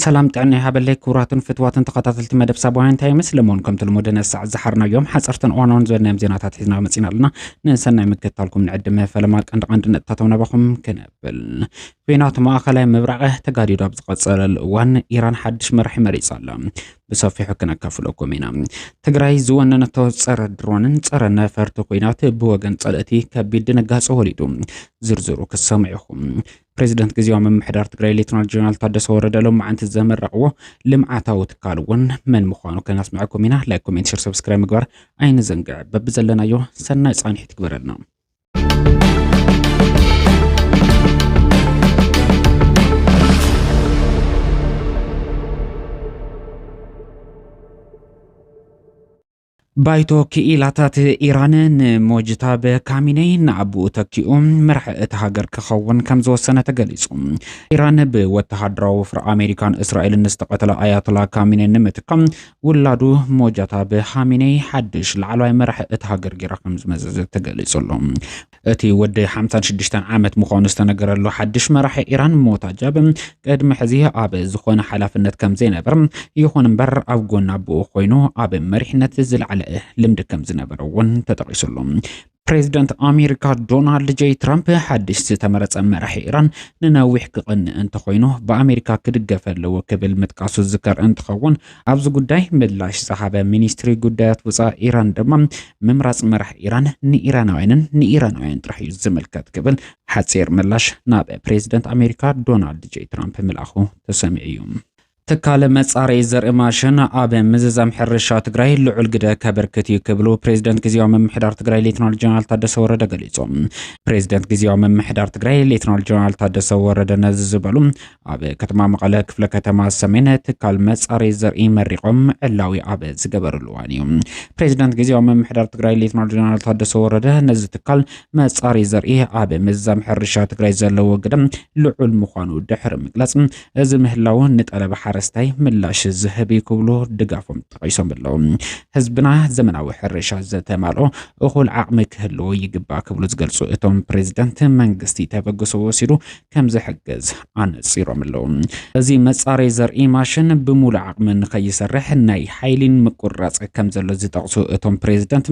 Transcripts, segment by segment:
ሰላም ጥዕና ይሃበለይ ክቡራትን ፍትዋትን ተኸታተልቲ መደብ ሳባውያን እንታይ ይመስል እሞን ከምቲ ልሙድ ነሳዕ ዝሓርናዮም ሓፀርትን እዋናውን ዝበልናዮም ዜናታት ሒዝና መፂና ኣለና ንሰናይ ምክትታልኩም ንዕድመ ፈለማ ቀንዲ ቀንዲ ነጥብታቶም ናባኹም ክንብል ኩናት ማእኸላይ ምብራቐ ተጋዲዶ ኣብ ዝቐፀለሉ እዋን ኢራን ሓድሽ መራሒ መሪፃ ኣላ ብሰፊሑ ክነካፍለኩም ኢና። ትግራይ ዝወነነቶ ፀረ ድሮንን ፀረ ነፈርቲ ኩናት ብወገን ፀለእቲ ከቢድ ድንጋፀ ወሊዱ። ዝርዝሩ ክትሰምዑ ኢኹም። ፕሬዚደንት ግዜያዊ ምምሕዳር ትግራይ ሌትናል ጀነራል ታደሰ ወረደ ሎማዓንቲ ዘመረቕዎ ልምዓታዊ ትካል እውን መን ምዃኑ ከነስምዐኩም ኢና። ላይክ፣ ኮሜንት፣ ሸር፣ ሰብስክራይብ ምግባር ኣይንዘንግዕ። በብዘለናዮ ሰናይ ፃንሒት ግበረልና። ባይቶ ክኢላታት ኢራን ንሞጅታበ ካሚነይ ንኣቦኡ ተኪኡ መራሒ እቲ ሃገር ክኸውን ከም ዝወሰነ ተገሊጹ። ኢራን ብወተሃደራዊ ወፍሪ ኣሜሪካን እስራኤልን ዝተቐተለ ኣያቶላ ካሚነይ ንምትካም ውላዱ ሞጃታብ ሃሚኔይ ሓድሽ ላዕለዋይ መራሒ እታ ሃገር ጌራ ከምዝመዘዘት ተገሊጹ ኣሎ። እቲ ወዲ ሓምሳን ሽዱሽተን ዓመት ምዃኑ ዝተነገረሉ ሓድሽ መራሒ ኢራን ሞታጃብ ቅድሚ ሕዚ ኣብ ዝኾነ ሓላፍነት ከምዘይነበር ይኹን እምበር ኣብ ጎኒ ኣቦኡ ኮይኑ ኣብ መሪሕነት ዝለዓለ ልምዲ ከምዝነበረ እውን ተጠቒሱ ኣሎ። ፕሬዚደንት ኣሜሪካ ዶናልድ ጄይ ትራምፕ ሓድሽ ዝተመረፀ መራሒ ኢራን ንነዊሕ ክቕንእ እንተኾይኑ ብኣሜሪካ ክድገፍ ኣለዎ ክብል ምጥቃሱ ዝዝከር እንትኸውን ኣብዚ ጉዳይ ምላሽ ዝሃበ ሚኒስትሪ ጉዳያት ወፃኢ ኢራን ድማ ምምራፅ መራሕ ኢራን ንኢራናውያንን ንኢራናውያን ጥራሕ እዩ ዝምልከት ክብል ሓፂር ምላሽ ናብ ፕሬዚደንት ኣሜሪካ ዶናልድ ጄይ ትራምፕ ምልኣኹ ተሰሚዑ እዩ። ትካል መፃረዪ ዘርኢ ማሽን ኣብ ምዝዛም ሕርሻ ትግራይ ልዑል ግደ ከበርክት እዩ ክብሉ ፕሬዚደንት ግዜያዊ ምምሕዳር ትግራይ ሌትናል ጀነራል ታደሰ ወረደ ገሊፆም። ፕሬዚደንት ግዜያዊ ምምሕዳር ትግራይ ሌትናል ጀነራል ታደሰ ወረደ ነዚ ዝበሉ ኣብ ከተማ መቐለ ክፍለ ከተማ ሰሜን ትካል መፃረዪ ዘርኢ መሪቖም ዕላዊ ኣብ ዝገበርሉ እዋን እዩ። ፕሬዚደንት ግዜያዊ ምምሕዳር ትግራይ ሌትናል ጀነራል ታደሰ ወረደ ነዚ ትካል መፃረዪ ዘርኢ ኣብ ምዝዛም ሕርሻ ትግራይ ዘለዎ ግደ ልዑል ምዃኑ ድሕሪ ምግላፅ እዚ ምህላው ንጠለብ ሓረስታይ ምላሽ ዝህብ እዩ ክብሉ ድጋፎም ጠቒሶም ኣለው። ህዝብና ዘመናዊ ሕርሻ ዘተማልኦ እኹል ዓቕሚ ክህልዎ ይግባእ ክብሉ ዝገልፁ እቶም ፕሬዚዳንት መንግስቲ ተበግሶ ወሲዱ ከምዝሕግዝ ኣነፂሮም ኣለው። እዚ መፃረይ ዘርኢ ማሽን ብሙሉእ ዓቕሚ ንከይሰርሕ ናይ ሓይሊን ምቁርራፅ ከምዘሎ ዝጠቕሱ እቶም ፕሬዚዳንት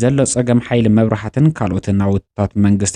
ዘሎ ፀገም ሓይሊ መብራህትን ካልኦት ናውትታት መንግስቲ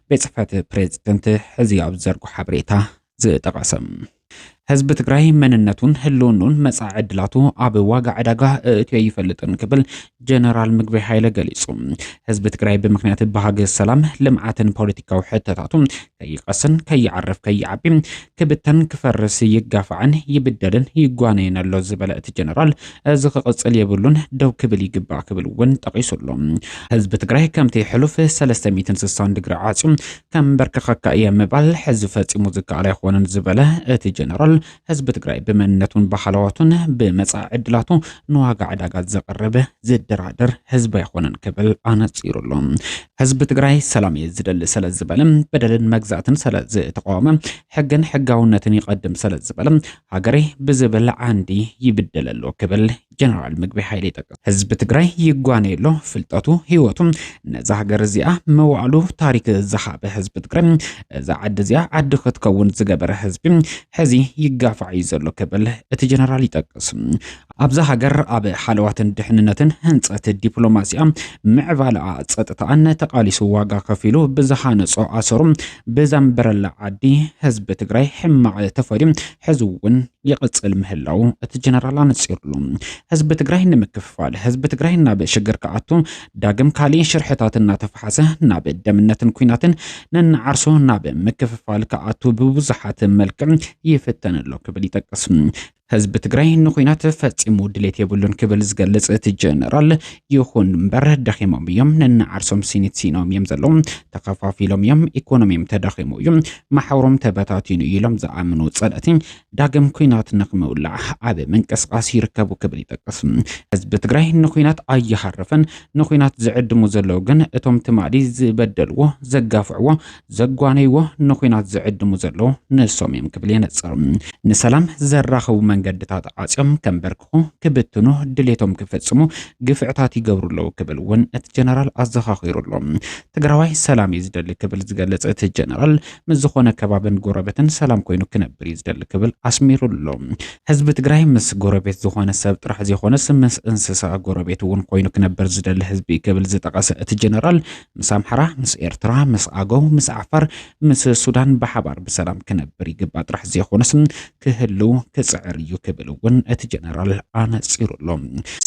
ቤት ጽሕፈት ፕሬዝደንት ሕዚ ኣብ ዝዘርጎ ሓበሬታ ዝጠቐሰ ህዝቢ ትግራይ መንነቱን ህልውኑን መጻኢ ዕድላቱ ኣብ ዋጋ ዕዳጋ እእትዮ ይፈልጥን ክብል ጀነራል ምግቢ ሃይለ ገሊጹ። ህዝቢ ትግራይ ብምክንያት ባህጊ ሰላም፣ ልምዓትን ፖለቲካዊ ሕተታቱ ከይቐስን ከይዓርፍ ከይዓቢ ክብተን ክፈርስ ይጋፋዕን ይብደልን ይጓነይን ኣሎ ዝበለ እቲ ጀነራል እዚ ክቕፅል የብሉን ደው ክብል ይግባእ ክብል እውን ጠቒሱ ኣሎ። ህዝቢ ትግራይ ከምቲ ሕሉፍ 360 ድግሪ ዓፅዩ ከምበርከኸካ እየ ምባል ሕዚ ፈፂሙ ዝከኣል ኣይኾነን ዝበለ እቲ ጀነራል ህዝቢ ትግራይ ብመንነቱን ባህላዋቱን ብመፃኢ ዕድላቱ ንዋጋ ዕዳጋ ዘቕርብ ዝደራደር ህዝቢ ኣይኾነን ክብል ኣነፂሩ ኣሎ። ህዝቢ ትግራይ ሰላም እየ ዝደሊ ሰለ ዝበለ በደልን መግዛእትን ሰለ ዝተቃወመ ሕግን ሕጋውነትን ይቐድም ሰለ ዝበለ ሃገሬ ብዝብል ዓንዲ ይብደል ኣሎ ክብል ጀነራል ምግቢ ሓይሊ ይጠቅስ። ህዝቢ ትግራይ ይጓነየ ኣሎ ፍልጠቱ ህይወቱ ነዛ ሃገር እዚኣ መዋዕሉ ታሪክ ዝሃበ ህዝቢ ትግራይ እዛ ዓዲ እዚኣ ዓዲ ክትከውን ዝገበረ ህዝቢ ሕዚ ይጋፋዕ እዩ ዘሎ ክብል እቲ ጀነራል ይጠቅስ። ኣብዛ ሃገር ኣብ ሓለዋትን ድሕንነትን ህንፀት ዲፕሎማሲኣ ምዕባለኣ ፀጥታኣን ተቓሊሱ ዋጋ ከፊሉ ብዝሃነፆ ኣሰሩ ብዘንበረላ ዓዲ ህዝቢ ትግራይ ሕማቕ ተፈድዩ ሕዚ እውን ይቕፅል ምህላው እቲ ጀነራል ኣነፂሩሉ። ህዝቢ ትግራይ ንምክፍፋል፣ ህዝቢ ትግራይ ናብ ሽግር ክኣቱ፣ ዳግም ካሊእ ሽርሕታት እናተፈሓሰ ናብ ደምነትን ኩናትን ነናዓርሱ ናብ ምክፍፋል ክኣቱ ብብዙሓት መልክዕ ይፍተን ኣሎ ክብል ይጠቅስ። ህዝቢ ትግራይ ንኩናት ፈጺሙ ድሌት የብሉን ክብል ዝገልጽ እቲ ጀነራል፣ ይኹን እምበር ደኺሞም እዮም፣ ነንዓርሶም ሲኒት ሲኖም እዮም ዘለዉ፣ ተኸፋፊሎም እዮም፣ ኢኮኖሚም ተዳኺሙ እዩ፣ ማሕበሮም ተበታቲኑ እዩ ኢሎም ዝኣምኑ ጸላእቲ ዳግም ኩናት ንክምውላዕ ኣብ ምንቅስቃስ ይርከቡ ክብል ይጠቅስ። ህዝቢ ትግራይ ንኩናት ኣይሃረፈን፣ ንኩናት ዝዕድሙ ዘለዉ ግን እቶም ትማሊ ዝበደልዎ፣ ዘጋፍዕዎ፣ ዘጓነይዎ ንኹናት ዝዕድሙ ዘለዉ ንሶም እዮም ክብል የነጽር። ንሰላም ዘራኽቡ መንገድታት ዓጽዮም ከምበርክኹ፣ ክብትኑ፣ ድሌቶም ክፍጽሙ ግፍዕታት ይገብሩ ኣለዉ ክብል እውን እቲ ጀነራል ኣዘኻኺሩ ኣሎ። ትግራዋይ ሰላም እዩ ዝደሊ ክብል ዝገለጸ እቲ ጀነራል ምስ ዝኾነ ከባብን ጎረበትን ሰላም ኮይኑ ክነብር እዩ ዝደሊ ክብል ኣስሚሩ ኣሎ። ህዝቢ ትግራይ ምስ ጎረቤት ዝኾነ ሰብ ጥራሕ ዘይኾነስ ምስ እንስሳ ጎረቤት እውን ኮይኑ ክነብር ዝደሊ ህዝቢ እዩ ክብል ዝጠቐሰ እቲ ጀነራል ምስ ኣምሓራ ምስ ኤርትራ ምስ ኣገው ምስ ዓፋር ምስ ሱዳን ብሓባር ብሰላም ክነብር ይግባእ ጥራሕ ዘይኾነስ ክህልው ክጽዕር እዩ ክብል እውን እቲ ጀነራል ኣነጺሩ ኣሎ።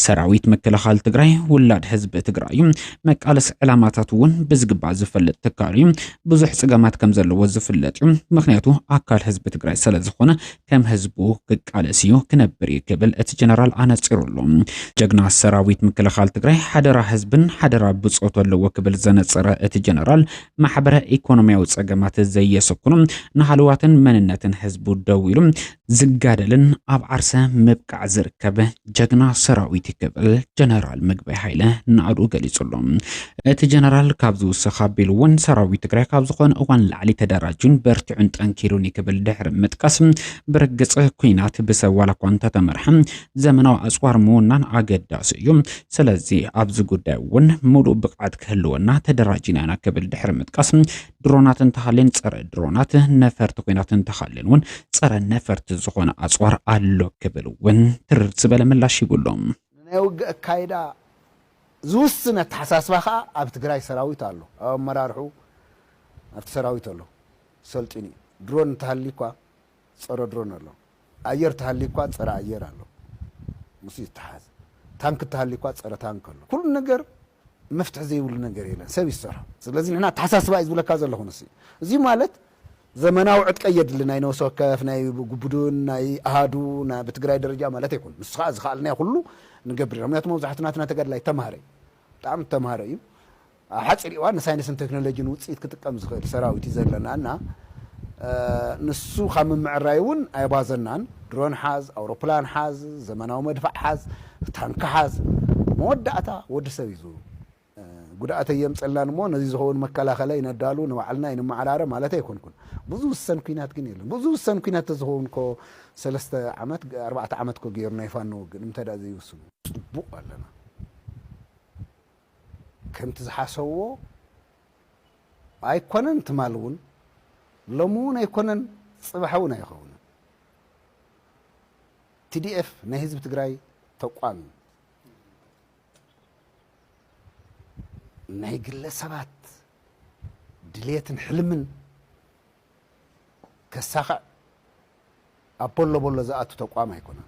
ሰራዊት ምክልኻል ትግራይ ውላድ ህዝቢ ትግራይ እዩ። መቃለሲ ዕላማታት እውን ብዝግባእ ዝፈልጥ ትካል እዩ። ብዙሕ ጽገማት ከምዘለዎ ዝፍለጥ እዩ። ምክንያቱ ኣካል ህዝቢ ትግራይ ስለዝኾነ ከም ህዝቡ ክቃለስ እዩ ክነብር እዩ ክብል እቲ ጀነራል ኣነጺሩ ኣሎ። ጀግና ሰራዊት ምክልኻል ትግራይ ሓደራ ህዝብን ሓደራ ብጾቱ ኣለዎ ክብል ዘነጸረ እቲ ጀነራል ማሕበረ ኢኮኖሚያዊ ጸገማት ዘየሰኩኑ ንሃለዋትን መንነትን ህዝቡ ደው ኢሉ ዝጋደልን ኣብ ዓርሰ ምብቃዕ ዝርከብ ጀግና ሰራዊት ክብል ጀነራል ምግበይ ሃይለ ናእዱ ገሊጹ ኣሎ። እቲ ጀነራል ካብ ዝውስኽ ኣቢሉ እውን ሰራዊት ትግራይ ካብ ዝኾነ እዋን ላዕሊ ተደራጁን በርቲዑን ጠንኪሩን ክብል ድሕሪ ምጥቃስ ብርግጽ ኩናት ብሰብ ዋላ እኳ እንተተመርሐ ዘመናዊ ኣጽዋር ምውናን ኣገዳሲ እዩ። ስለዚ ኣብዚ ጉዳይ እውን ሙሉእ ብቕዓት ክህልወና ተደራጂና ኢና ክብል ድሕሪ ምጥቃስ ድሮናት እንተሃልየን ፀረ ድሮናት ነፈርቲ ኩናት እንተሃልየን እውን ፀረ ነፈርቲ ዝኾነ ኣፅዋር ኣሎ ክብል እውን ትርር ዝበለ ምላሽ ሂቡ ኣሎ። ንናይ ውግእ ኣካይዳ ዝውስን ኣተሓሳስባ ከኣ ኣብ ትግራይ ሰራዊት ኣሎ፣ ኣብ ኣመራርሕኡ ኣብቲ ሰራዊት ኣሎ፣ ሰልጢኑ እዩ። ድሮን እንተሃልዩኳ ጸረ ድሮን ኣሎ። ኣየር ተሃልዩኳ ጸረ ኣየር ኣሎ ምስኡ ይተሓዝ። ታንኪ ተሃልዩኳ ጸረ ታንኪ ኣሎ። ኩሉ ነገር መፍትሒ ዘይብሉ ነገር የለን ሰብ እዩ ዝሰርሖ። ስለዚ ንሕና ኣተሓሳስባ እዩ ዝብለካ ዘለኹ ንሱ እዩ። እዚ ማለት ዘመናዊ ዕጥቂ ኣየድልን ናይ ነብሲ ወከፍ ናይ ጉቡድን ናይ ኣሃዱ ናይ ብትግራይ ደረጃ ማለት ኣይኮነን። ንሱ ከኣ ዝኸኣልናዮ ኩሉ ንገብር ኢና። ምክንያቱ መብዛሕቱ ናትና ተጋድላይ ተማሃረ እዩ። ብጣዕሚ ዝተማሃረ እዩ። ኣብ ሓፂር እዋን ንሳይንስን ቴክኖሎጂን ውፅኢት ክጥቀም ዝኽእል ሰራዊት እዩ ዘለና እና ንሱ ካብ ምምዕራይ እውን ኣይቧዘናን። ድሮን ሓዝ፣ ኣውሮፕላን ሓዝ፣ ዘመናዊ መድፋዕ ሓዝ፣ ታንኪ ሓዝ መወዳእታ ወዲ ሰብ እዩ ዝው ጉድኣት ኣየምፀልናን እሞ ነዚ ዝኸውን መከላኸለ ይነዳሉ ንባዕልና ይንመዓራረ ማለት ኣይኮንኩን ብዙ ውሰን ኩናት ግን የለን ብዙ ውሰን ኩናት ተዝኸውን ኮ ሰለስተ ዓመት ኣርባዕተ ዓመት ኮ ገይሩ ናይ ፋኖ ውግእ ንምንታይ ዘይውስኑ ፅቡቅ ኣለና ከምቲ ዝሓሰብዎ ኣይኮነን ትማል ውን ሎሚ ውን ኣይኮነን ጽባሕ ውን ኣይኸውንን TDF ናይ ህዝቢ ትግራይ ተቋም እዩ ናይ ግለ ሰባት ድሌትን ሕልምን ከሳኽዕ ኣብ ፖሎ ቦሎ ዝኣቱ ተቋም ኣይኮነን።